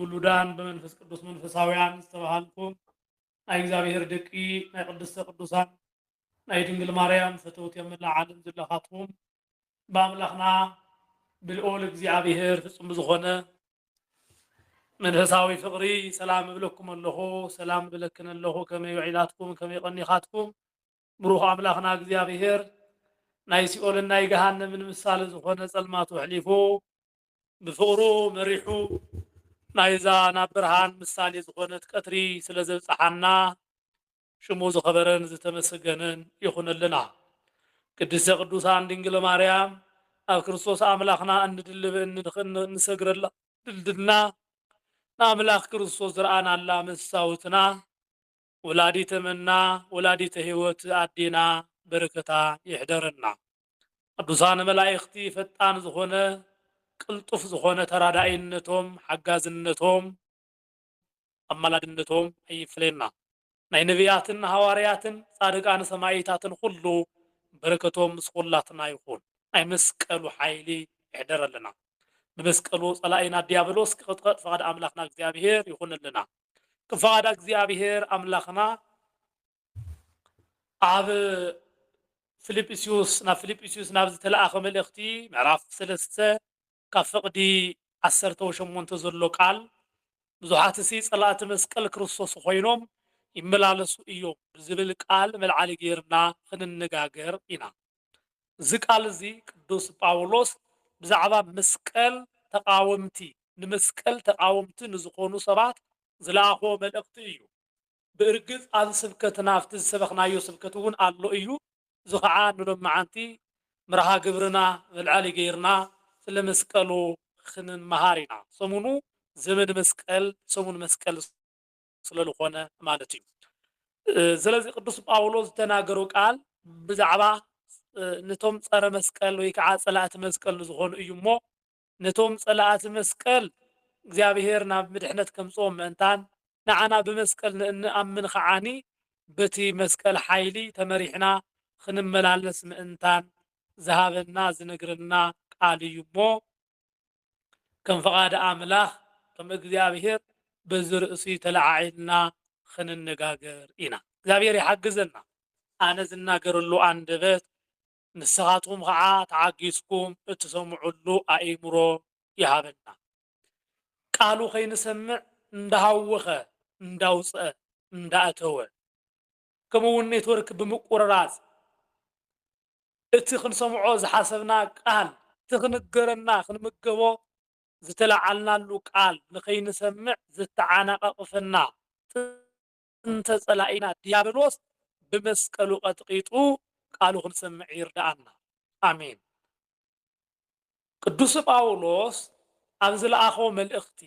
ውሉዳን ብመንፈስ ቅዱስ መንፈሳውያን ዝተባሃልኩም ናይ እግዚኣብሔር ደቂ ናይ ቅድስተ ቅዱሳን ናይ ድንግል ማርያም ፈተውቲ ኣብ መላእ ዓለም ዘለኻትኩም ብኣምላኽና ብልኦል እግዚኣብሔር ፍጹም ብዝኾነ መንፈሳዊ ፍቕሪ ሰላም እብለኩም ኣለኹ ሰላም እብለክን ኣለኹ ከመይ ውዒላትኩም ከመይ ቐኒኻትኩም ብሩኽ ኣምላኽና እግዚኣብሔር ናይ ሲኦልን ናይ ገሃነምን ምሳሌ ዝኾነ ጸልማቱ ኣሕሊፉ ብፍቕሩ መሪሑ ናይዛ ናብ ብርሃን ምሳሌ ዝኾነት ቀትሪ ስለ ዘብጽሓና ሽሙ ዝኸበረን ዝተመሰገነን ይኹነልና። ቅድስተ ቅዱሳን ድንግል ማርያም ኣብ ክርስቶስ ኣምላኽና እንድልብ እንሰግረላ ድልድልና ንኣምላኽ ክርስቶስ ዝረኣናላ መሳውትና ወላዲተ መና ወላዲተ ህይወት ኣዴና በረከታ ይሕደረና ቅዱሳን መላኢክቲ ፈጣን ዝኮነ ቅልጡፍ ዝኮነ ተራዳኢነቶም ሓጋዝነቶም ኣማላድነቶም ኣይፍለየና ናይ ነብያትን ሃዋርያትን ፃድቃን ሰማኢታትን ኩሉ በረከቶም ምስ ኩላትና ይኩን ናይ መስቀሉ ሓይሊ ይሕደረልና ብመስቀሉ ፀላኢና ድያብሎስ ክቅጥቀጥ ፍቃድ ኣምላክና እግዚኣብሔር ይኩነልና ብፍቓድ ኣግዚኣብሄር ኣምላኽና ኣብ ፊልጵስዩስ ናብ ፊልጵስዩስ ናብ ዝተለኣኸ መልእኽቲ ምዕራፍ ሰለስተ ካብ ፍቕዲ ዓሰርተው ሸሞንተ ዘሎ ቃል ብዙሓትሲ ጸላእቲ መስቀል ክርስቶስ ኮይኖም ይመላለሱ እዮም ብዝብል ቃል መልዓሊ ጌርና ክንነጋገር ኢና። እዚ ቃል እዚ ቅዱስ ጳውሎስ ብዛዕባ መስቀል ተቓወምቲ ንመስቀል ተቓወምቲ ንዝኾኑ ሰባት ዝለኣኾ መልእኽቲ እዩ። ብእርግጽ ኣብዚ ስብከትና ኣብቲ ዝሰበኽናዮ ስብከት እውን ኣሎ እዩ፣ እዚ ኸኣ ንሎምዓንቲ መርሃ ግብርና መልዐሊ ገይርና ስለ መስቀሉ ኽንመሃር ኢና። ሰሙኑ ዘመን መስቀል፣ ሰሙን መስቀል፣ ስለ ልኾነ ማለት እዩ። ስለዚ ቅዱስ ጳውሎስ ዝተናገሮ ቃል ብዛዕባ ነቶም ጸረ መስቀል ወይ ከዓ ጸላእቲ መስቀል ንዝኾኑ እዩ እሞ ነቶም ጸላእቲ መስቀል እግዚኣብሔር ናብ ምድሕነት ከምጽኦም ምእንታን ንዓና ብመስቀል ንእንኣምን ኸዓኒ በቲ መስቀል ሓይሊ ተመሪሕና ኽንመላለስ ምእንታን ዝሃበና ዝነግረና ቃል እዩ እሞ ከም ፍቓድ ኣምላኽ ከም እግዚኣብሄር በዚ ርእሲ ተለዓዒልና ኽንነጋገር ኢና። እግዚኣብሄር ይሓግዘና። ኣነ ዝናገረሉ ኣንደበት ንስኻትኩም ኸዓ ተዓጊስኩም እትሰምዑሉ ኣእምሮ ይሃበና። ቃሉ ከይንሰምዕ እንዳሃወኸ እንዳውፅኣ እንዳኣተወ ከምኡ እውን ኔትወርክ ብምቁርራፅ እቲ ክንሰምዖ ዝሓሰብና ቃል፣ እቲ ክንገረና ክንምገቦ ዝተለዓልናሉ ቃል ንከይንሰምዕ ዘተዓናቐቕፈና ጥንተ ፀላኢና ዲያብሎስ ብመስቀሉ ቀጥቒጡ ቃሉ ክንሰምዕ ይርድኣና። ኣሜን። ቅዱስ ጳውሎስ ኣብ ዝለኣኾ መልእኽቲ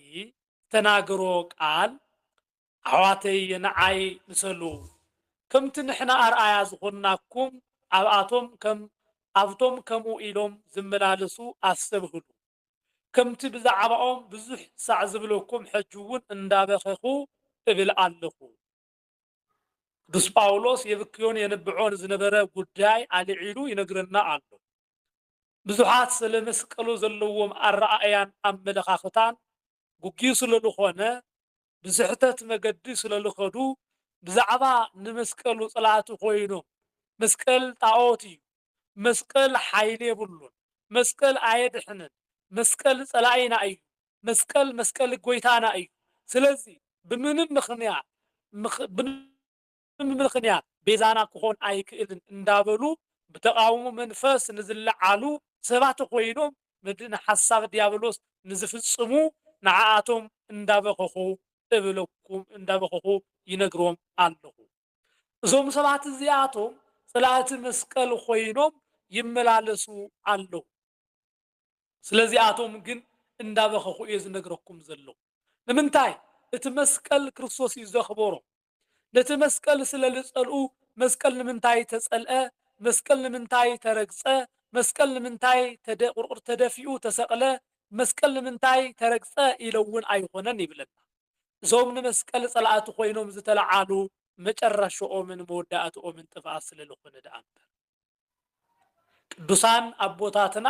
ዝተናገሮ ቃል ኣሕዋተይ ንዓይ ምሰሉ ከምቲ ንሕና ኣርኣያ ዝኾንናኩም ኣብኣቶም ከም ኣብቶም ከምኡ ኢሎም ዝመላለሱ ኣስተብህሉ ከምቲ ብዛዕባኦም ብዙሕ ሳዕ ዝብለኩም ሕጂውን እንዳበኸኹ እብል ኣለኹ። ቅዱስ ጳውሎስ የብክዮን የንብዖን ዝነበረ ጉዳይ ኣልዒሉ ይነግረና ኣሎ። ብዙሓት ስለ መስቀሉ ዘለዎም ኣረኣእያን ኣመለኻኽታን ጉግይ ስለልኾነ ብስሕተት መገዲ ስለልኸዱ ብዛዕባ ንመስቀሉ ጽላእቲ ኮይኖም መስቀል ጣኦት እዩ መስቀል ሓይሊ የብሉን መስቀል ኣየድሕንን መስቀል ጸላኢና እዩ መስቀል መስቀል ጎይታና እዩ ስለዚ ብምንም ምኽንያት ብምኽንያት ቤዛና ክኾን ኣይክእልን እንዳበሉ ብተቓውሞ መንፈስ ንዝለዓሉ ሰባት ኾይኖም ምድን ሓሳብ ዲያብሎስ ንዝፍጽሙ ንዓኣቶም እንዳበኸኹ እብለኩም እንዳበኸኹ ይነግሮም ኣለኹ። እዞም ሰባት እዚኣቶም ጽላእቲ መስቀል ኾይኖም ይመላለሱ ኣለዉ። ስለዚኣቶም ግን እንዳበኸኹ እየ ዝነግረኩም ዘለኹ። ንምንታይ? እቲ መስቀል ክርስቶስ እዩ ዘኽበሮም። ነቲ መስቀል ስለ ልጸልኡ መስቀል ንምንታይ ተጸልአ፣ መስቀል ንምንታይ ተረግጸ፣ መስቀል ንምንታይ ቁርቁር ተደፊኡ ተሰቕለ፣ መስቀል ንምንታይ ተረግጸ ኢለ እውን ኣይኾነን ይብለና። እዞም ንመስቀል ጸላእቲ ኮይኖም ዝተለዓሉ መጨረሽኦምን መወዳእትኦምን ጥፍኣት ስለ ልኾነ ደኣ እምበር። ቅዱሳን ኣቦታትና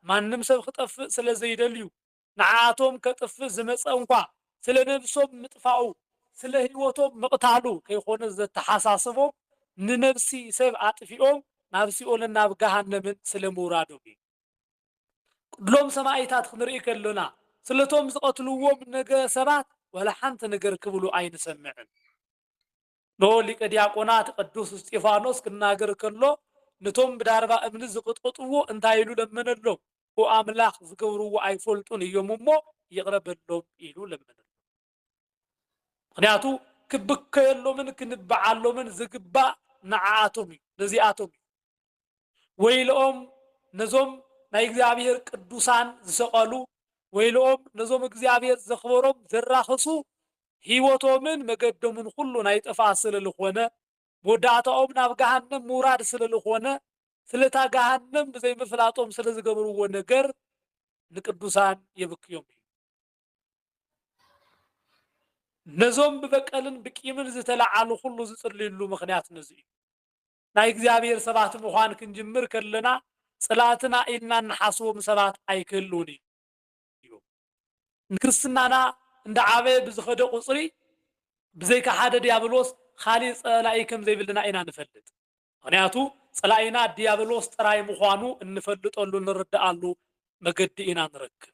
ማንም ሰብ ክጠፍእ ስለ ዘይደልዩ ንዓኣቶም ከጥፍእ ዝመጸ እንኳ ስለ ነብሶም ምጥፋኡ ስለ ሕይወቶም ምቕታሉ ከይኮነ ዘተሓሳስቦም ንነብሲ ሰብ ኣጥፊኦም ናብ ሲኦልን ናብ ገሃነምን ስለ ምውራዶም እዩ። ቅድሎም ሰማኢታት ክንርኢ ከሎና ስለቶም ዝቐትልዎም ነገ ሰባት ዋላ ሓንቲ ነገር ክብሉ ኣይንሰምዕን። ን ሊቀ ዲያቆናት ቅዱስ እስጢፋኖስ ክናገር ከሎ ንቶም ብዳርባ እምኒ ዝቅጥቅጥዎ እንታይ ኢሉ ለመነሎም ኦ ኣምላክ ዝገብርዎ ኣይፈልጡን እዮም እሞ ይቅረ በሎም ኢሉ ለመነሎም ምክንያቱ ክብከየሎምን ክንብዓሎምን ዝግባእ ንዓኣቶም እዩ ነዚኣቶም እዩ ወይልኦም ነዞም ናይ እግዚኣብሄር ቅዱሳን ዝሰቀሉ ወይልኦም ነዞም እግዚኣብሄር ዘክበሮም ዘራክሱ ሂወቶምን መገዶምን ኩሉ ናይ ጥፍኣት ስለ ልኮነ መወዳእታኦም ናብ ገሃነም ምውራድ ስለ ልኮነ ስለታ ገሃነም ብዘይ ምፍላጦም ስለ ዝገብርዎ ነገር ንቅዱሳን የብክዮም እዩ ነዞም ብበቀልን ብቂምን ዝተለዓሉ ኩሉ ዝጽልይሉ ምክንያት ነዚ እዩ ናይ እግዚኣብሔር ሰባት ምዃን ክንጅምር ከለና ጽላእትና ኢልና እንሓስቦም ሰባት ኣይክህልዉን እዮም። ንክርስትናና እንዳዓበየ ብዝኸደ ቁጽሪ ብዘይካ ሓደ ዲያብሎስ ኻሊእ ጸላኢ ከምዘይብልና ኢና ንፈልጥ። ምኽንያቱ ጸላኢና ዲያብሎስ ጥራይ ምዃኑ እንፈልጠሉ እንርድኣሉ መገዲ ኢና ንረክብ።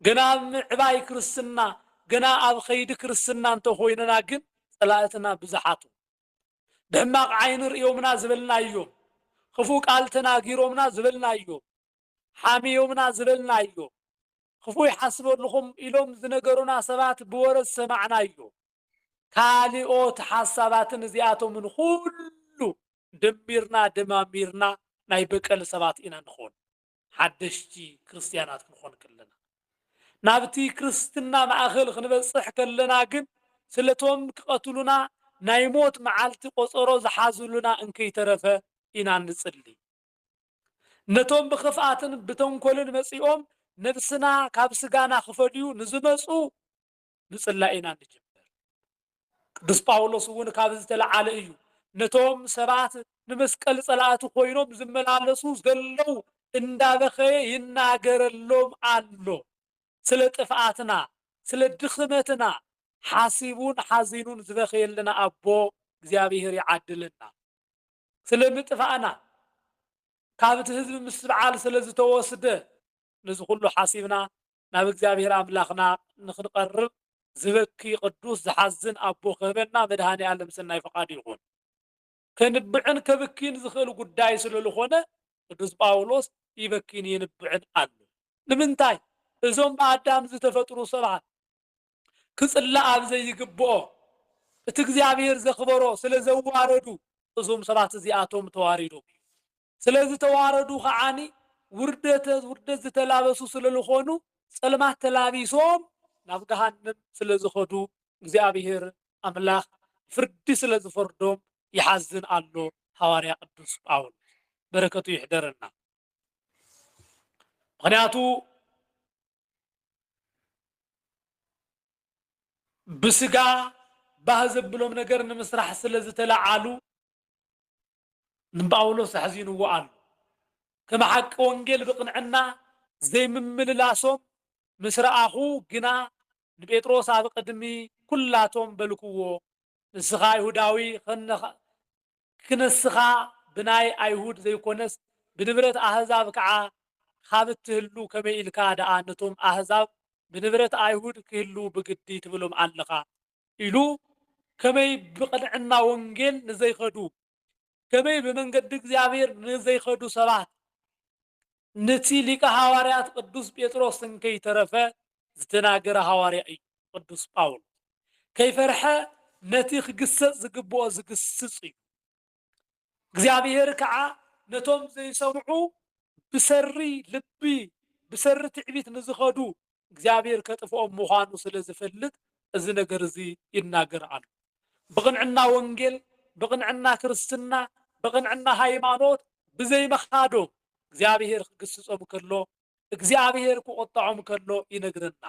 ገና ኣብ ምዕባይ ክርስትና ገና ኣብ ኸይዲ ክርስትና እንተኾይንና ግን ጸላእትና ብዙሓት እዮም። ብሕማቕ ዓይኒ ርእዮምና ዝበልናዮም፣ ኽፉእ ቃል ተናጊሮምና ዝበልናዮም፣ ሓምዮምና ዝበልናዮ፣ ኽፉእ ይሓስበልኹም ኢሎም ዝነገሩና ሰባት ብወረ ዝሰማዕናዮ ካልኦት ሓሳባትን እዚኣቶምን ኹሉ ደሚርና ደማሚርና ናይ በቀል ሰባት ኢና ንኾን። ሓደሽቲ ክርስትያናት ክንኾን ከለና። ናብቲ ክርስትና ማእከል ክንበጽሕ ከለና ግን ስለቶም ክቐትሉና ናይ ሞት መዓልቲ ቆጸሮ ዝሓዙሉና እንከይተረፈ ኢና እንጽሊ። ነቶም ብኽፍኣትን ብተንኮልን መጺኦም ነብስና ካብ ስጋና ክፈድዩ ንዝመጹ ምጽላይ ኢና እንጅምር። ቅዱስ ጳውሎስ እውን ካብዚ ዝተለዓለ እዩ ነቶም ሰባት ንመስቀል ጸላእቲ ኮይኖም ዝመላለሱ ዘለዉ እንዳበኸየ ይናገረሎም ኣሎ። ስለ ጥፍኣትና፣ ስለ ድኽመትና ሓሲቡን ሓዚኑን ዝበኸየልና ኣቦ እግዚኣብሔር ይዓድለና። ስለ ምጥፋእና ካብቲ ህዝቢ ምስ በዓል ስለ ዝተወስደ ነዚ ኩሉ ሓሲብና ናብ እግዚኣብሔር ኣምላኽና ንኽንቐርብ ዝበኪ ቅዱስ ዝሓዝን ኣቦ ክህበና መድኃኔ ዓለም ሰናይ ፈቃዱ ይኹን። ከንብዕን ከብኪን ዝኽእል ጉዳይ ስለልኾነ ቅዱስ ጳውሎስ ይበኪን የንብዕን ኣሉ። ንምንታይ እዞም ብኣዳም ዝተፈጥሩ ሰባት ክጽላእ ኣብ ዘይግብኦ እቲ እግዚኣብሔር ዘኽበሮ ስለዘዋረዱ እዞም ሰባት እዚኣቶም ተዋሪዶም እዮም። ስለዝተዋረዱ ከዓኒ ውርደተ ውርደት ዝተላበሱ ስለልኾኑ ፀልማት ተላቢሶም ናብ ገሃነም ስለዝኸዱ እግዚኣብሔር ኣምላክ ፍርዲ ስለዝፈርዶም ይሓዝን ኣሎ ሃዋርያ ቅዱስ ጳውሎስ በረከቱ ይሕደረና ምክንያቱ ብስጋ ባህ ዘብሎም ነገር ንምስራሕ ስለዝተለዓሉ ንጳውሎስ ኣሕዚንዎ ኣሎ። ከም ሓቂ ወንጌል ብቕንዕና ዘይምምልላሶም ምስ ረኣኹ ግና፣ ንጴጥሮስ ኣብ ቕድሚ ኵላቶም በልክዎ፣ ንስኻ ኣይሁዳዊ ኽንስኻ ብናይ ኣይሁድ ዘይኰነስ ብንብረት ኣህዛብ ከዓ ኻብ እትህሉ ከመይ ኢልካ ደኣ ነቶም ኣህዛብ ብንብረት ኣይሁድ ኪህልዉ ብግዲ ትብሎም ኣለኻ? ኢሉ ከመይ ብቅንዕና ወንጌል ንዘይከዱ ከመይ ብመንገዲ እግዚኣብሔር ንዘይከዱ ሰባት ንቲ ሊቀ ሓዋርያት ቅዱስ ጴጥሮስ እንከይተረፈ ዝተናገረ ሓዋርያ እዩ ቅዱስ ጳውሎስ ከይፈርሐ ነቲ ክግሰጽ ዝግብኦ ዝግስጽ እዩ። እግዚኣብሄር ከኣ ነቶም ዘይሰምዑ ብሰሪ ልቢ ብሰሪ ትዕቢት ንዝኸዱ እግዚኣብሄር ከጥፍኦም ምዃኑ ስለ ዝፈልጥ እዚ ነገር እዚ ይናገር ኣሎ። ብቕንዕና ወንጌል፣ ብቕንዕና ክርስትና፣ ብቕንዕና ሃይማኖት ብዘይምኻዶም እግዚኣብሄር ክግስጾም ከሎ እግዚኣብሄር ክቖጥዖም ከሎ ይነግረና።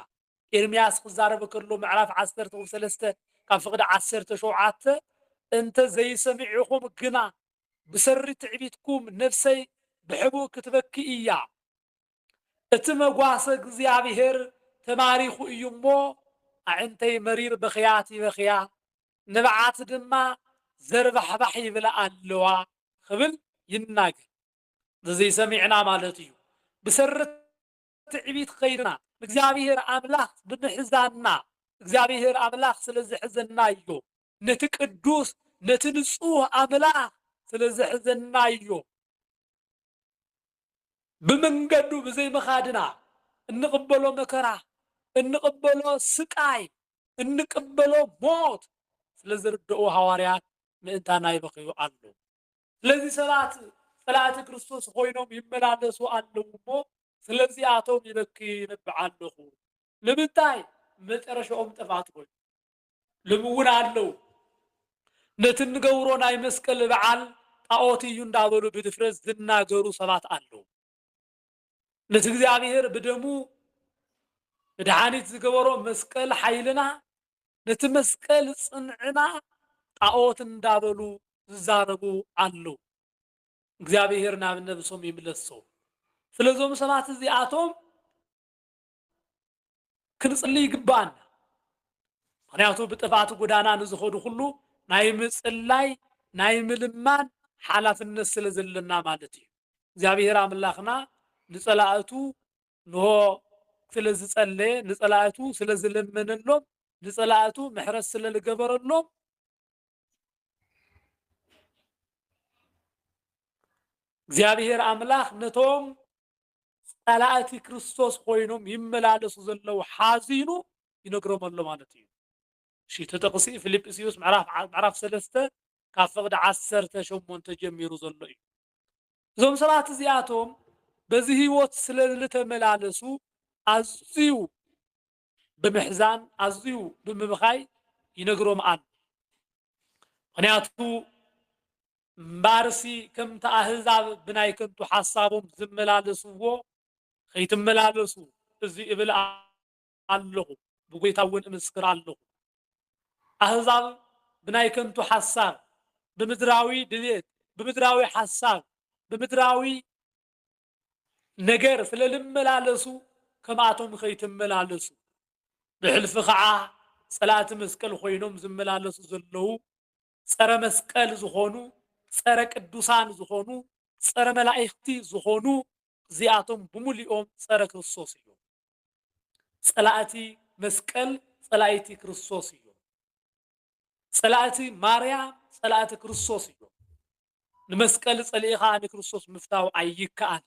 ኤርምያስ ክዛረብ ከሎ ምዕራፍ ዓሰርተ ቁብ ሰለስተ ካብ ፍቅዲ ዓሰርተ ሸውዓተ እንተ ዘይሰሚዒኹም ግና ብሰሪ ትዕቢትኩም ነፍሰይ ብሕቡእ ክትበኪ እያ እቲ መጓሰ እግዚኣብሔር ተማሪኹ እዩ እሞ ኣዕንተይ መሪር በኽያት ይበኽያ ንብዓት ድማ ዘርባሕባሕ ይብላ ኣለዋ ክብል ይናገር። እዚ ዘይሰሚዕና ማለት እዩ ብሰሪ ትዕቢት ከይድና ንእግዚኣብሔር ኣምላክ ብምሕዛንና እግዚኣብሔር ኣምላክ ስለ ዘሕዘናዮ ነቲ ቅዱስ ነቲ ንፁህ ኣምላክ ስለ ዘሕዘናዮ ብመንገዱ ብዘይምካድና እንቅበሎ መከራ እንቅበሎ ስቃይ እንቅበሎ ሞት ስለ ዝርደኡ ሃዋርያት ምእንታና ይበክዩ ኣለው። ስለዚ ሰባት ጸላእቲ ክርስቶስ ኾይኖም ይመላለሱ ኣለዉ እሞ ስለዚኣቶም ይበኪ ይነብዕ ኣለኹ። ንምንታይ? መጨረሻኦም ጥፍኣት ኮይኑ ልም እውን ኣለዉ ነቲ እንገብሮ ናይ መስቀል በዓል ጣዖት እዩ እንዳበሉ ብድፍረት ዝናገሩ ሰባት ኣለዉ። ምስ እግዚኣብሔር ብደሙ መድኃኒት ዝገበሮ መስቀል ሓይልና ነቲ መስቀል ጽንዕና ጣዖት እንዳበሉ ዝዛረቡ ኣለዉ። እግዚኣብሔር ናብ ነብሶም ይምለሶም። ስለዞም ሰባት እዚኣቶም ክንጽሊ ይግብኣና። ምክንያቱ ብጥፍኣት ጎዳና ንዝኸዱ ኩሉ ናይ ምጽላይ ናይ ምልማን ሓላፍነት ስለ ዘለና ማለት እዩ። እግዚኣብሔር ኣምላኽና ንጸላእቱ ንሆ ስለ ዝጸለየ ንጸላእቱ ስለ ዝለመነሎም ንጸላእቱ ምሕረት ስለ ዝገበረሎም እግዚኣብሔር ኣምላኽ ነቶም ጸላእቲ ክርስቶስ ኮይኖም ይመላለሱ ዘለዉ ሓዚኑ ይነግሮም ኣሎ ማለት እዩ። እሺ እቲ ጥቕሲ ፊልጵስዩስ ምዕራፍ ዓ- ምዕራፍ ሰለስተ ካብ ፍቕዲ ዓሰርተ ሸሞንተ ጀሚሩ ዘሎ እዩ። እዞም ሰባት እዚኣቶም በዚ ህይወት ስለ ዝተመላለሱ ኣዝዩ ብምሕዛን ኣዝዩ ብምብኻይ ይነግሮ ምኣን ምክንያቱ እምባርሲ ከምቲ ኣህዛብ ብናይ ከንቱ ሓሳቦም ዝመላለስዎ ከይትመላለሱ እዚ እብል ኣለኹ ብጎይታ እውን እምስክር ኣለኹ ኣህዛብ ብናይ ከንቱ ሓሳብ ብምድራዊ ድሌት ብምድራዊ ሓሳብ ብምድራዊ ነገር ስለ ልመላለሱ ከምኣቶም ከይትመላለሱ ብሕልፊ ከዓ ፀላእቲ መስቀል ኮይኖም ዝመላለሱ ዘለዉ ፀረ መስቀል ዝኾኑ ፀረ ቅዱሳን ዝኾኑ ፀረ መላእኽቲ ዝኾኑ እዚኣቶም ብሙሉኦም ፀረ ክርስቶስ እዮም። ፀላእቲ መስቀል ፀላኢቲ ክርስቶስ እዮም። ጸላእቲ ማርያም ጸላእቲ ክርስቶስ እዮም። ንመስቀል ጸሊእኻ ንክርስቶስ ምፍታው ኣይከኣልን።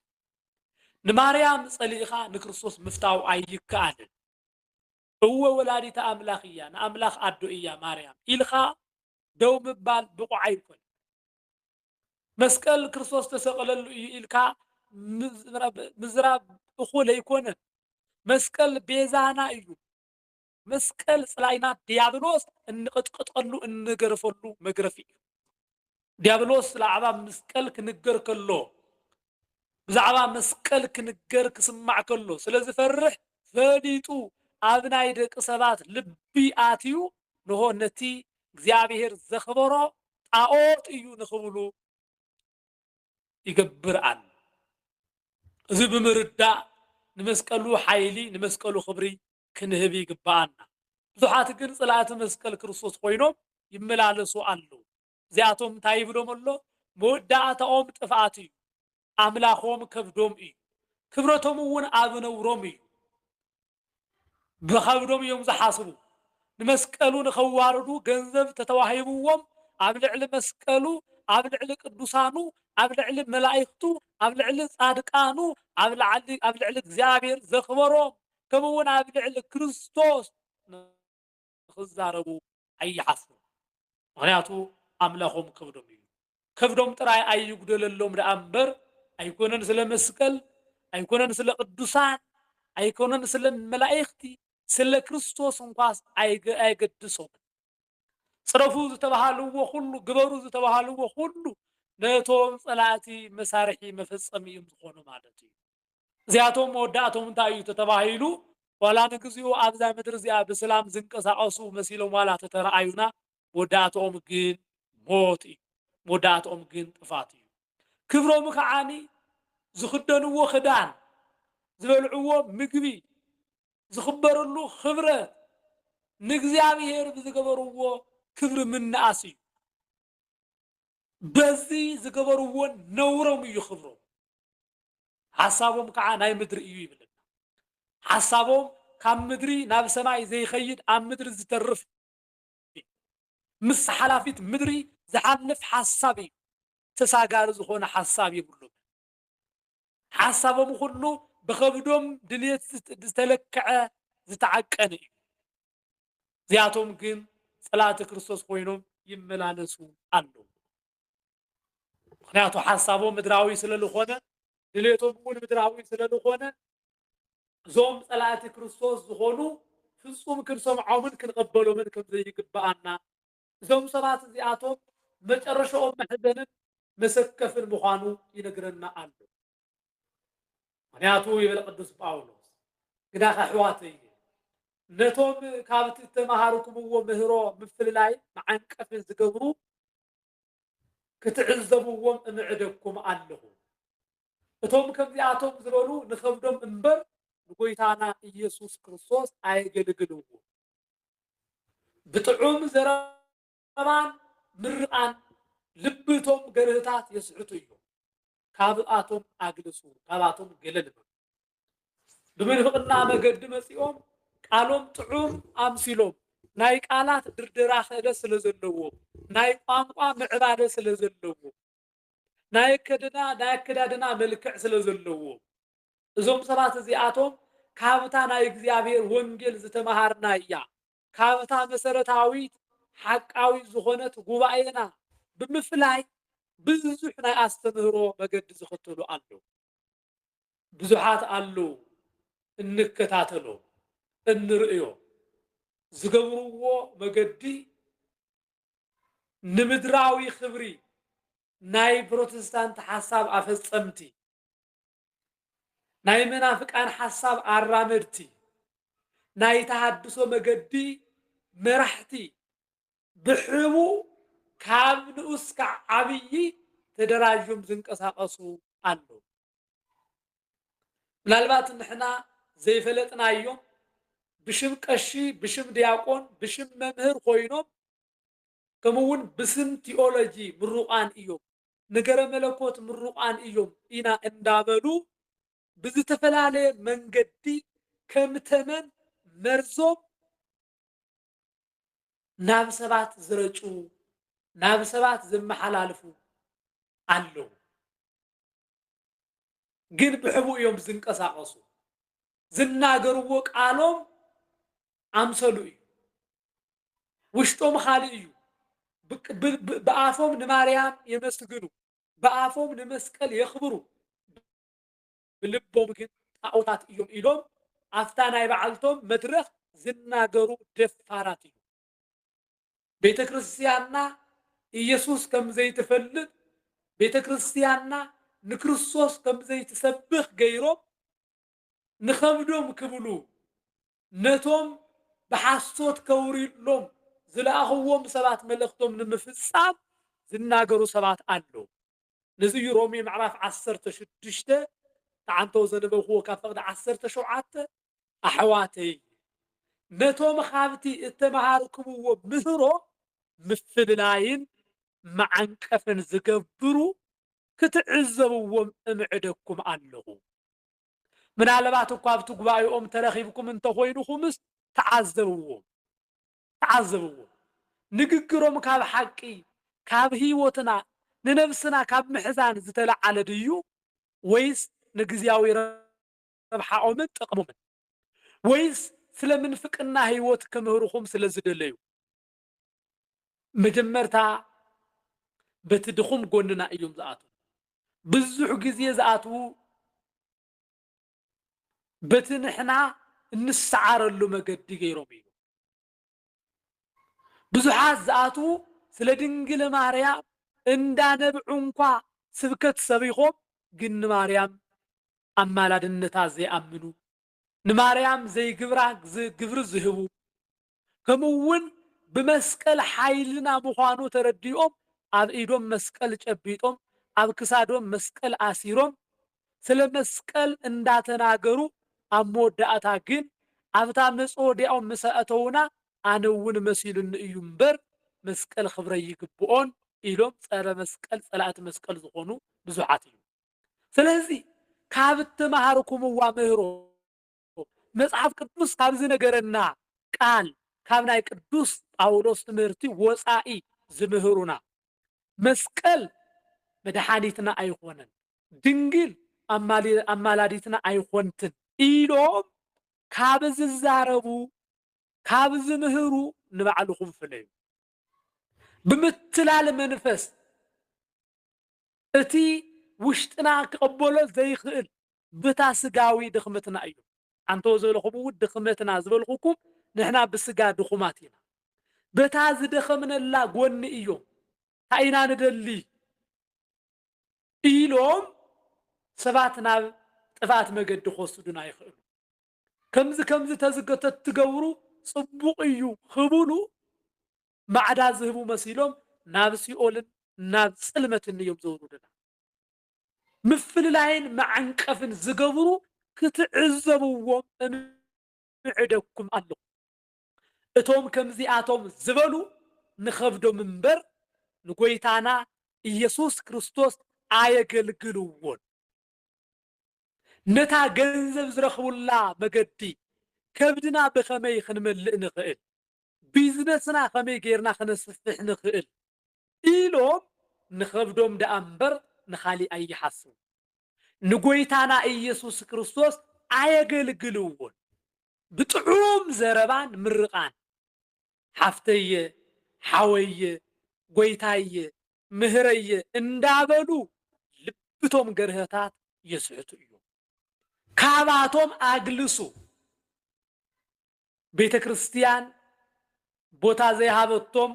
ንማርያም ጸሊእኻ ንክርስቶስ ምፍታው ኣይከኣልን። እወ ወላዲተ ኣምላኽ እያ፣ ንኣምላኽ ኣዶ እያ ማርያም ኢልካ ደው ምባል ብቑዕ ኣይኮነን። መስቀል ክርስቶስ ተሰቕለሉ እዩ ኢልካ ምዝራብ እኹል ኣይኮነን። መስቀል ቤዛና እዩ። መስቀል ጽላኢና ድያብሎስ እንቕጥቅጠሉ እንገርፈሉ መግረፊ እዩ። ድያብሎስ ብዛዕባ መስቀል ክንገር ከሎ ብዛዕባ መስቀል ክንገር ክስማዕ ከሎ ስለ ዝፈርሕ ፈሊጡ ኣብ ናይ ደቂ ሰባት ልቢ ኣትዩ ንሆ ነቲ እግዚኣብሔር ዘኽበሮ ጣዖት እዩ ንኽብሉ ይገብር ኣሎ። እዚ ብምርዳእ ንመስቀሉ ሓይሊ ንመስቀሉ ክብሪ ክንህብ ይግብኣና። ብዙሓት ግን ጽላእቲ መስቀል ክርስቶስ ኮይኖም ይመላለሱ ኣለዉ። እዚኣቶም እንታይ ይብሎም ኣሎ? መወዳእታኦም ጥፍኣት እዩ፣ ኣምላኾም ከብዶም እዩ፣ ክብረቶም እውን ኣብ ነውሮም እዩ። ብኸብዶም እዮም ዝሓስቡ። ንመስቀሉ ንኸዋርዱ ገንዘብ ተተዋሂብዎም ኣብ ልዕሊ መስቀሉ፣ ኣብ ልዕሊ ቅዱሳኑ፣ ኣብ ልዕሊ መላኢኽቱ፣ ኣብ ልዕሊ ጻድቃኑ፣ ኣብ ልዕሊ ኣብ ልዕሊ እግዚኣብሔር ዘኽበሮም ከምኡውን ኣብ ልዕሊ ክርስቶስ ንኽዛረቡ ኣይሓፍሩን። ምኽንያቱ ኣምላኾም ከብዶም እዩ። ከብዶም ጥራይ ኣይጉደለሎም ደኣ እምበር ኣይኮነን ስለ መስቀል፣ ኣይኮነን ስለ ቅዱሳን፣ ኣይኮነን ስለ መላእኽቲ፣ ስለ ክርስቶስ እንኳስ ኣየገድሶምን። ጽረፉ ዝተባሃልዎ ኩሉ፣ ግበሩ ዝተባሃልዎ ኩሉ ነቶም ጸላእቲ መሳርሒ መፈጸሚ እዮም ዝኾኑ ማለት እዩ። እዚኣቶም መወዳእቶም እንታይ እዩ ተተባሂሉ ዋላ ንግዚኡ ኣብዛ ምድሪ እዚኣ ብስላም ዝንቀሳቐሱ መሲሎም ዋላ ተተረኣዩና መወዳእትኦም ግን ሞት እዩ። መወዳእትኦም ግን ጥፋት እዩ። ክብሮም ከዓኒ ዝኽደንዎ ክዳን፣ ዝበልዕዎ ምግቢ፣ ዝኽበርሉ ክብረት ንእግዚኣብሄር ብዝገበርዎ ክብሪ ምንኣስ እዩ። በዚ ዝገበርዎን ነውሮም እዩ ክብሮም ሓሳቦም ከዓ ናይ ምድሪ እዩ ይብለና ሓሳቦም ካብ ምድሪ ናብ ሰማይ ዘይኸይድ ኣብ ምድሪ ዝተርፍ ምስ ሓላፊት ምድሪ ዝሓልፍ ሓሳብ እዩ ተሳጋሪ ዝኾነ ሓሳብ የብሎም ሓሳቦም ኹሉ ብኸብዶም ድልየት ዝተለክዐ ዝተዓቀነ እዩ። እዚኣቶም ግን ጸላእቲ ክርስቶስ ኮይኖም ይመላለሱ ኣለዉ። ምክንያቱ ሓሳቦም ምድራዊ ስለ ዝኾነ ድሌቶም እውን ምድራዊ ስለ ዝኾነ እዞም ጸላእቲ ክርስቶስ ዝኾኑ ፍጹም ክንሰምዖምን ክንቐበሎምን ከም ዘይግብኣና እዞም ሰባት እዚኣቶም መጨረሻኦም መሕዘንን መሰከፍን ምዃኑ ይነግረና ኣሎ። ምክንያቱ ይብል ቅዱስ ጳውሎስ ግዳኸ ኣሕዋተየ ነቶም ካብቲ ዝተመሃርኩምዎ ምህሮ ምፍልላይ መዓንቀፊ ዝገብሩ ክትዕዘብዎም እምዕደኩም ኣለኹ። እቶም ከምዚኣቶም ዝበሉ ንኸብዶም እምበር ንጎይታና ኢየሱስ ክርስቶስ ኣየገልግልዎ። ብጥዑም ዘረባን ምርቓን ልቢ እቶም ገርህታት የስሕቱ እዮም። ካብኣቶም ኣግልሱ፣ ካብኣቶም ገለል በሉ። ብምንፍቕና መገዲ መጺኦም ቃሎም ጥዑም ኣምሲሎም ናይ ቃላት ድርደራ ክእለት ስለ ዘለዎ ናይ ቋንቋ ምዕባለ ስለ ዘለዎ ናይ ኣከድና ናይ ኣከዳድና መልክዕ ስለ ዘለዎ እዞም ሰባት እዚኣቶም ካብታ ናይ እግዚኣብሔር ወንጌል ዝተመሃርና እያ ካብታ መሰረታዊት ሓቃዊ ዝኾነት ጉባኤና ብምፍላይ ብዙሕ ናይ ኣስተምህሮ መገዲ ዝኽተሉ ኣለዉ። ብዙሓት ኣለው እንከታተሎ እንርእዮ ዝገብርዎ መገዲ ንምድራዊ ክብሪ ናይ ፕሮቴስታንት ሓሳብ ኣፈጸምቲ ናይ መናፍቃን ሓሳብ ኣራመድቲ ናይ ተሃድሶ መገዲ መራሕቲ ብሕቡእ ካብ ንኡስ ካዕ ዓብዪ ተደራዡም ዝንቀሳቐሱ ኣለዉ። ምናልባት ንሕና ዘይፈለጥናዮም ብሽም ቀሺ፣ ብሽም ዲያቆን፣ ብሽም መምህር ኮይኖም ከምኡ እውን ብስም ቲኦሎጂ ምሩቓን እዮም፣ ነገረ መለኮት ምሩቓን እዮም ኢና እንዳበሉ ብዝተፈላለየ መንገዲ ከም ተመን መርዞም ናብ ሰባት ዝረጭዉ ናብ ሰባት ዝመሓላልፉ ኣለዉ ግን ብሕቡእ እዮም ዝንቀሳቐሱ ዝናገርዎ ቃሎም ኣምሰሉ እዩ ውሽጦም ኻልእ እዩ ብኣፎም ንማርያም የመስግኑ ብኣፎም ንመስቀል የኽብሩ ብልቦም ግን ጣኦታት እዮም ኢሎም ኣፍታ ናይ በዓልቶም መድረኽ ዝናገሩ ደፋራት እዮም። ቤተ ክርስቲያንና ኢየሱስ ከም ዘይትፈልጥ፣ ቤተ ክርስቲያንና ንክርስቶስ ከም ዘይትሰብኽ ገይሮም ንኸብዶም ክብሉ ነቶም ብሓሶት ከውርዩሎም ዝለኣኽዎም ሰባት መልእኽቶም ንምፍጻም ዝናገሩ ሰባት ኣለዉ። ነዚ እዩ ሮሜ ምዕራፍ ዓሰርተ ሽዱሽተ ተዓንተው ዘነበብክዎ ካብ ፈቕዲ ዓሰርተ ሸውዓተ ኣሕዋተይ ነቶም ካብቲ እተመሃርክምዎ ምህሮ ምፍልላይን መዓንቀፍን ዝገብሩ ክትዕዘብዎም እምዕደኩም ኣለኹ። ምናልባት እኳ ኣብቲ ጉባኤኦም ተረኺብኩም እንተኾይንኹምስ ተዓዘብዎም። ተዓዘብዎ ንግግሮም ካብ ሓቂ ካብ ህይወትና ንነብስና ካብ ምሕዛን ዝተለዓለ ድዩ ወይስ ንግዝያዊ ረብሓኦምን ጥቅሞምን ወይስ ስለ ምንፍቅና ህይወት ክምህርኹም ስለ ዝደለዩ መጀመርታ በቲ ድኹም ጎንና እዮም ዝኣትዉ ብዙሕ ግዜ ዝኣትዉ በቲ ንሕና እንሰዓረሉ መገዲ ገይሮም እዩ። ብዙሓት ዝኣትዉ ስለ ድንግል ማርያም እንዳ ነብዑ እንኳ ስብከት ሰቢኾም ግን ንማርያም ኣማላድነታ ዘይኣምኑ ንማርያም ዘይግብራ ግብሪ ዝህቡ ከምኡ እውን ብመስቀል ሓይልና ምዃኑ ተረዲኦም ኣብ ኢዶም መስቀል ጨቢጦም ኣብ ክሳዶም መስቀል ኣሲሮም ስለ መስቀል እንዳተናገሩ ኣብ መወዳእታ ግን ኣብታ መፅወድያኦም ምስ ኣእተዉና ኣነ እውን መሲሉኒ እዩ እምበር መስቀል ክብረይ ይግብኦን ኢሎም ፀረ መስቀል ፀላእቲ መስቀል ዝኾኑ ብዙሓት እዮም። ስለዚ ካብ እተማሃርኩምዋ ምህሮ፣ መጽሓፍ ቅዱስ ካብ ዝንገረና ቃል ካብ ናይ ቅዱስ ጳውሎስ ትምህርቲ ወጻኢ ዝምህሩና መስቀል መድሓኒትና ኣይኾነን፣ ድንግል ኣማላዲትና ኣይኾንትን ኢሎም ካብ ዝዛረቡ ካብ ዝምህሩ ንባዕልኹም ፍለዩ። ብምትላል መንፈስ እቲ ውሽጥና ክቕበሎ ዘይኽእል ብታ ስጋዊ ድኽምትና እዩ። ኣንተወ ዝበልኹምውን ድኽመትና ዝበልኹኩም ንሕና ብስጋ ድኹማት ኢና። በታ ዝደኸምነላ ጎኒ እዮም ታይ ኢና ንደሊ ኢሎም ሰባት ናብ ጥፍኣት መገዲ ክወስዱና ይኽእሉ። ከምዚ ከምዚ ተዝገተትትገብሩ ፅቡቕ እዩ ክብሉ ማዕዳ ዝህቡ መሲሎም ናብ ሲኦልን ናብ ጽልመትን እዮም ዘውርዱና። ምፍልላይን መዓንቀፍን ዝገብሩ ክትዕዘብዎም እምዕደኩም ኣለኹ። እቶም ከምዚኣቶም ዝበሉ ንኸብዶም እምበር ንጐይታና ኢየሱስ ክርስቶስ ኣየገልግልዎን። ነታ ገንዘብ ዝረኽቡላ መገዲ ከብድና ብኸመይ ክንመልእ ንኽእል? ቢዝነስና ከመይ ገይርና ክነስፍሕ ንኽእል ኢሎም ንኸብዶም ደኣ እምበር ንኻሊእ ኣይሓስቡ። ንጎይታና ኢየሱስ ክርስቶስ ኣየገልግልዎን። ብጥዑም ዘረባን ምርቓን ሓፍተየ፣ ሓወየ፣ ጎይታየ፣ ምህረየ እንዳበሉ ልብቶም ገርህታት የስሕቱ እዮም። ካባቶም ኣግልሱ። ቤተ ክርስትያን ቦታ ዘይሃበቶም፣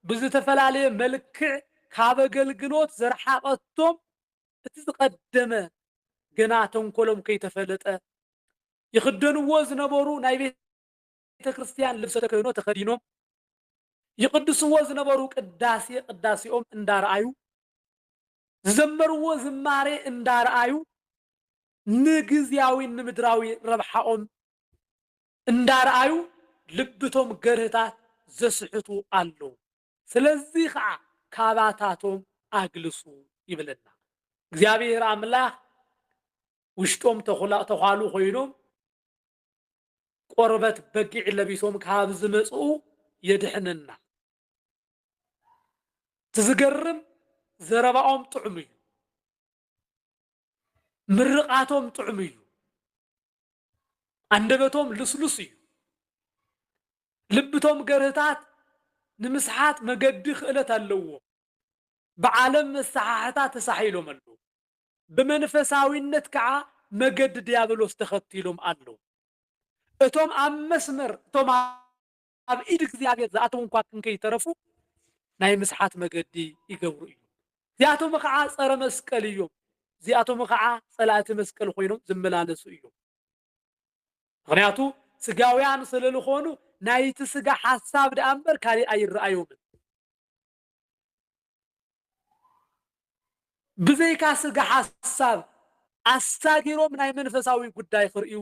ብዝተፈላለየ መልክዕ ካብ ኣገልግሎት ዘርሓቐቶም እቲ ዝቐደመ ገና ተንኮሎም ከይተፈለጠ ይኽደንዎ ዝነበሩ ናይ ቤተ ክርስትያን ልብሰ ተክህኖ ተኸዲኖም ይቕድስዎ ዝነበሩ ቅዳሴ ቅዳሴኦም እንዳረኣዩ ዝዘመርዎ ዝማሬ እንዳረኣዩ ንግዝያዊን ንምድራዊ ረብሓኦም እንዳርኣዩ ልብቶም ገርህታት ዘስሕቱ ኣለው ስለዚ ከኣ ካባታቶም ኣግልሱ ይብለና እግዚኣብሄር ኣምላኽ ውሽጦም ተዃሉ ኮይኖም ቆርበት በጊዕ ለቢሶም ካብ ዝመጽኡ የድሕነና ትዝገርም ዘረባኦም ጥዑም እዩ ምርቓቶም ጥዑም እዩ፣ ኣንደበቶም ልስሉስ እዩ፣ ልብቶም ገርህታት ንምስሓት መገዲ ክእለት ኣለዎ፣ ብዓለም መሳሓሕታ ተሳሒሎም ኣለዉ፣ ብመንፈሳዊነት ከዓ መገዲ ዲያብሎስ ተኸቲሎም ኣለዉ። እቶም ኣብ መስመር እቶም ኣብ ኢድ እግዚኣብሔር ዝኣተዉ እንኳ ክንከይተረፉ ናይ ምስሓት መገዲ ይገብሩ እዮም። እዚኣቶም ኸዓ ጸረ መስቀል እዮም። እዚኣቶም ኸዓ ጸላእቲ መስቀል ኮይኖም ዝመላለሱ እዮም። ምክንያቱ ስጋውያን ስለልኾኑ ናይቲ ስጋ ሓሳብ ደኣ እምበር ካሊእ ኣይረኣዮምን። ብዘይካ ስጋ ሓሳብ ኣሳጊሮም ናይ መንፈሳዊ ጉዳይ ክርእዩ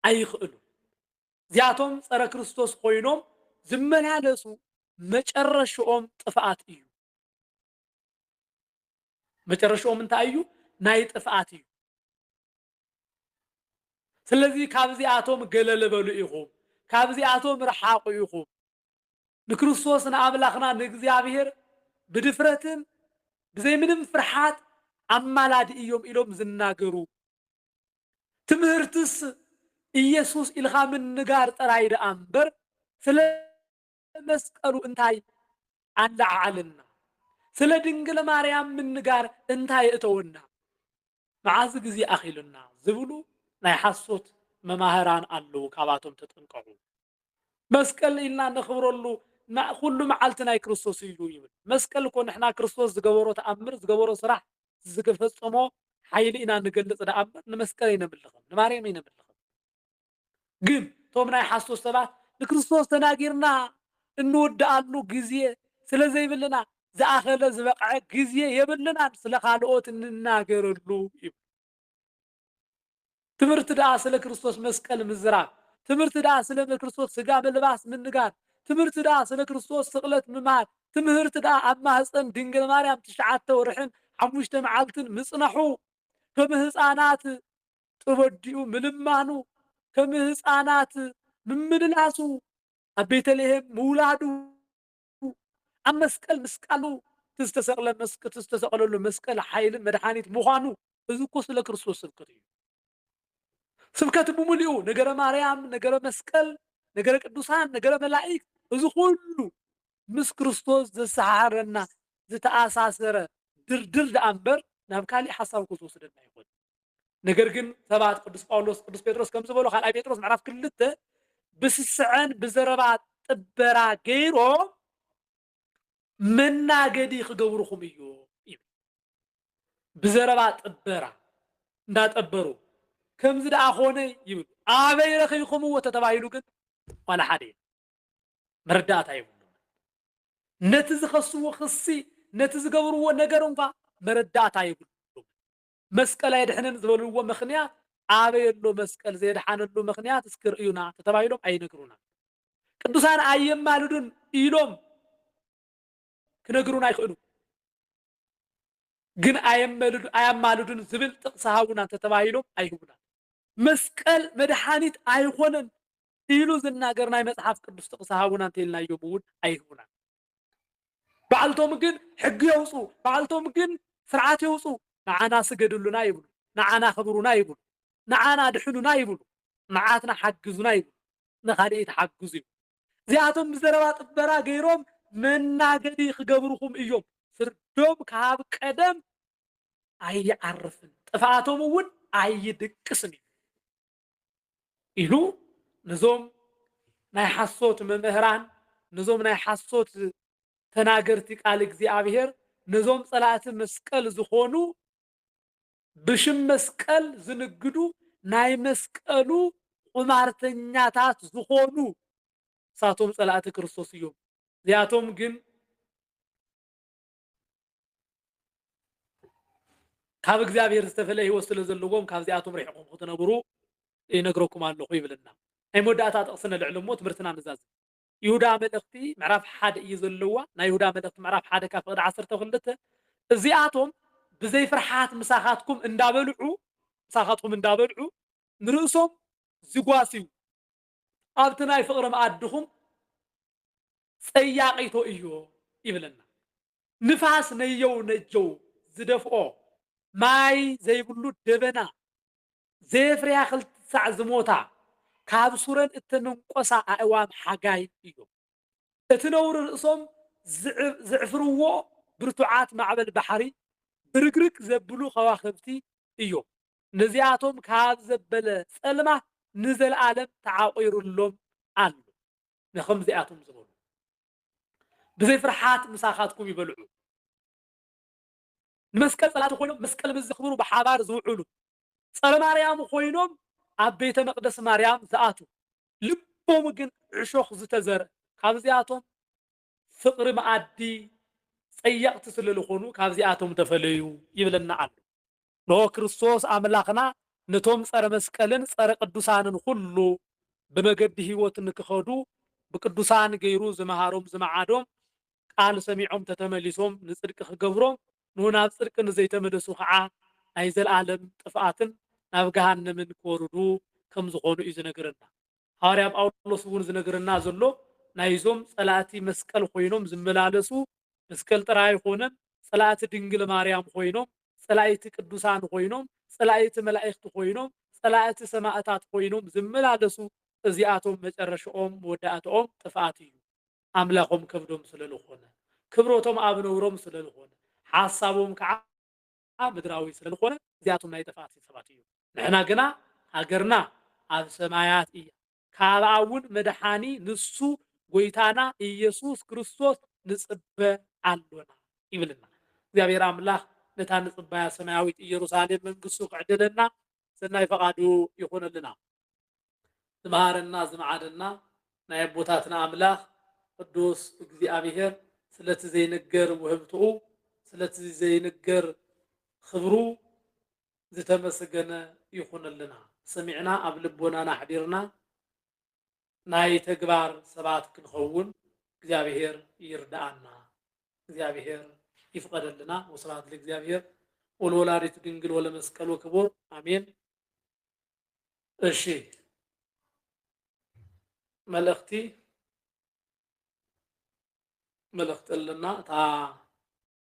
ኣይኽእሉን። እዚኣቶም ጸረ ክርስቶስ ኮይኖም ዝመላለሱ መጨረሽኦም ጥፍኣት እዩ። መጨረሽኦም እንታይ እዩ? ናይ ጥፍኣት እዩ። ስለዚ ካብዚኣቶም ገለል በሉ ኢኹም፣ ካብዚኣቶም ርሓቑ ኢኹም። ንክርስቶስ ንኣምላኽና ንእግዚኣብሔር ብድፍረትን ብዘይ ምንም ፍርሓት ኣማላዲ እዮም ኢሎም ዝናገሩ ትምህርትስ ኢየሱስ ኢልኻ ምንጋር ጥራይ ደኣ እምበር ስለ መስቀሉ እንታይ ኣለዓዓለና? ስለ ድንግል ማርያም ምንጋር እንታይ የእተወና? መዓዝ ግዜ ኣኺሉና? ዝብሉ ናይ ሓሶት መማህራን ኣለዉ፣ ካብኣቶም ተጠንቀቑ። መስቀል ኢልና እነኽብረሉ ን ኩሉ መዓልቲ ናይ ክርስቶስ እዩ ኢሉ ይብል። መስቀል እኮ ንሕና ክርስቶስ ዝገበሮ ተኣምር ዝገበሮ ስራሕ ዝገፈጸሞ ሓይሊ ኢና ንገልጽ ደኣ እምበር ንመስቀል ኣይነምልኽን ንማርያም ኣይነምልኽን። ግን እቶም ናይ ሓሶት ሰባት ንክርስቶስ ተናጊርና እንውድኣሉ ግዜ ስለዘይብልና ዝኣኸለ ዝበቕዐ ግዜ የብልናን ስለ ካልኦት እንናገረሉ ይብሉ። ትምህርት ደኣ ስለ ክርስቶስ መስቀል ምዝራብ፣ ትምህርት ደኣ ስለ ክርስቶስ ሥጋ መልባስ ምንጋር፣ ትምህርት ደኣ ስለ ክርስቶስ ስቅለት ምማር፣ ትምህርት ደኣ ኣብ ማህጸን ድንግል ማርያም ትሽዓተ ወርሕን ሓሙሽተ መዓልትን ምጽናሑ፣ ከም ሕፃናት ጥበዲኡ ምልማኑ፣ ከም ሕፃናት ምምልላሱ፣ ኣብ ቤተልሔም ምውላዱ፣ ኣብ መስቀል ምስቃሉ እቲ ዝተሰቅለ እቲ ዝተሰቀለሉ መስቀል ሓይልን መድሓኒት ምዃኑ እዚ እኮ ስለ ክርስቶስ ስብከት እዩ። ስብከት ብምልኡ ነገረ ማርያም፣ ነገረ መስቀል፣ ነገረ ቅዱሳን፣ ነገረ መላእክት እዚ ኩሉ ምስ ክርስቶስ ዘሰሓሕረና ዝተኣሳሰረ ድርድር ደኣ እምበር ናብ ካሊእ ሓሳብ እኮ ዝወስደና ኣይኮነን። ነገር ግን ሰባት ቅዱስ ጳውሎስ ቅዱስ ጴጥሮስ ከም ዝበሎ ካልኣይ ጴጥሮስ ምዕራፍ ክልተ ብስስዐን ብዘረባ ጥበራ ገይሮም መናገዲ ክገብርኹም እዩ ይብል ብዘረባ ጥበራ እንዳጠበሩ ከምዚ ደኣ ኮነ ይብሉ ኣበይ ረኺብኩምዎ ተተባሂሉ ግን ዋላ ሓደ እዩ መረዳእታ ይብሉ ነቲ ዝኸስዎ ክሲ ነቲ ዝገብርዎ ነገር እንኳ መረዳእታ ይብሉ መስቀል ኣየድሕንን ዝበልዎ ምኽንያት ኣበይ ኣሎ መስቀል ዘየድሓነሉ ምኽንያት እስኪ ርእዩና ተተባሂሎም ኣይነግሩናን። ቅዱሳን ኣየማልዱን ኢሎም ክነግሩና ኣይኽእሉ ግን ኣየማልዱን ዝብል ጥቕሲ ሃቡና ተተባሂሎም ኣይህቡና። መስቀል መድሓኒት ኣይኾነን ኢሉ ዝናገር ናይ መጽሓፍ ቅዱስ ጥቕሲ ሃቡና እንተኢልናዮም እውን ኣይህቡናን። ባዕልቶም ግን ሕጊ የውፁ፣ ባዕልቶም ግን ስርዓት የውፁ። ንዓና ስገድሉና ይብሉ፣ ንዓና ኣኽብሩና ይብሉ፣ ንዓና ኣድሕኑና ይብሉ፣ ንዓትና ሓግዙና ይብሉ፣ ንኻልኢት ሓግዙ ይብሉ። እዚኣቶም ብዘረባ ጥበራ ገይሮም መናገዲ ክገብሩኹም እዮም። ፍርዶም ካብ ቀደም ኣይዓርፍን፣ ጥፍኣቶም እውን ኣይድቅስን እዩ። ኢሉ ነዞም ናይ ሓሶት መምህራን ነዞም ናይ ሓሶት ተናገርቲ ቃል እግዚኣብሔር ነዞም ጸላእቲ መስቀል ዝኾኑ ብሽም መስቀል ዝንግዱ ናይ መስቀሉ ቁማርተኛታት ዝኾኑ ንሳቶም ጸላእቲ ክርስቶስ እዮም። እዚኣቶም ግን ካብ እግዚኣብሔር ዝተፈለ ህይወት ስለ ዘለዎም ካብዚኣቶም ርሒቕኹም ክትነብሩ ይነግረኩም ኣለኹ ይብልና ናይ መወዳእታ ጥቕሲ ነልዕል እሞ ትምህርትና ንዛዝም ይሁዳ መልእኽቲ ምዕራፍ ሓደ እዩ ዘለዋ ናይ ይሁዳ መልእኽቲ ምዕራፍ ሓደ ካብ ፍቕዲ ዓሰርተ ክልተ እዚኣቶም ብዘይ ፍርሓት ምሳኻትኩም እንዳበልዑ ምሳኻትኩም እንዳበልዑ ንርእሶም ዝጓስዩ ኣብቲ ናይ ፍቕሪ መኣድኹም ጸያቒቶ እዮ ይብለና። ንፋስ ነየው ነጀው ዝደፍኦ፣ ማይ ዘይብሉ ደበና፣ ዘየፍርያ ክልተ ሳዕ ዝሞታ፣ ካብ ሱረን እተመንቈሳ ኣእዋም ሓጋይ እዮም። እቲ ነውሪ ርእሶም ዜዕፍርዎ ብርቱዓት ማዕበል ባሕሪ፣ ብርግርግ ዘብሉ ኸዋኽብቲ እዮም። ነዚኣቶም ካብ ዘበለ ጸልማት ንዘለኣለም ተዓቚሩሎም ኣሎ። ንኸምዚኣቶም ዝበሉ፣ ብዘይ ፍርሓት ምሳኻትኩም ይበልዑ። ንመስቀል ጸላእቲ ኮይኖም መስቀል ምስ ዘኽብሩ ብሓባር ዝውዕሉ፣ ጸረ ማርያም ኮይኖም ኣብ ቤተ መቅደስ ማርያም ዝኣትዉ፣ ልቦም ግን ዕሾኽ ዝተዘርእ ካብዚኣቶም ፍቅሪ መኣዲ ጸየቅቲ ስለልኾኑ ካብዚኣቶም ተፈለዩ ይብለና ኣሎ። እንሆ ክርስቶስ ኣምላኽና ነቶም ጸረ መስቀልን ጸረ ቅዱሳንን ኹሉ ብመገዲ ሕይወት ንክኸዱ ብቅዱሳን ገይሩ ዝመሃሮም ዝመዓዶም ቃል ሰሚዖም ተተመሊሶም ንጽድቂ ክገብሮም ን ናብ ጽድቂ ንዘይተመለሱ ከኣ ናይ ዘልኣለም ጥፍኣትን ናብ ገሃነምን ክወርዱ ከም ዝኾኑ እዩ ዝነግረና። ሃዋርያ ጳውሎስ እውን ዝነግረና ዘሎ ናይዞም ጸላእቲ መስቀል ኾይኖም ዝመላለሱ መስቀል ጥራይ ኣይኾነን ጸላእቲ ድንግል ማርያም ኾይኖም ጸላኢቲ ቅዱሳን ኾይኖም ጸላኢቲ መላኢክቲ ኾይኖም ጸላእቲ ሰማእታት ኾይኖም ዝመላለሱ እዚኣቶም መጨረሽኦም መወዳእትኦም ጥፍኣት እዩ። ኣምላኾም ከብዶም ስለ ልኾነ፣ ክብሮቶም ኣብ ነውሮም ስለ ልኾነ፣ ሓሳቦም ከኣ ምድራዊ ስለ ልኾነ፣ እዚኣቶም ናይ ጥፍኣት ሰባት እዮም። ንሕና ግና ሃገርና ኣብ ሰማያት እያ፣ ካብኣ እውን መድሓኒ ንሱ ጐይታና ኢየሱስ ክርስቶስ ንጽበ ኣሎና ይብልና። እግዚኣብሔር ኣምላኽ ነታ ንጽባያ ሰማያዊት ኢየሩሳሌም መንግሥቱ ክዕድለና ሰናይ ፈቓዱ ይኹነልና። ዝመሃረና ዝመዓደና ናይ ኣቦታትና ኣምላኽ ቅዱስ እግዚኣብሔር ስለቲ ዘይንገር ውህብትኡ ስለቲ ዘይንገር ኽብሩ ዝተመስገነ ይኹንልና ሰሚዕና ኣብ ልቦናና ኣሕዲርና ናይ ተግባር ሰባት ክንኸውን እግዚኣብሔር ይርዳኣና እግዚኣብሔር ይፍቀደልና ወስብሐት ለእግዚኣብሔር ወለወላዲቱ ድንግል ወለመስቀሉ ክቡር ኣሜን። እሺ መልእኽቲ መልእኽቲ ኣለና እታ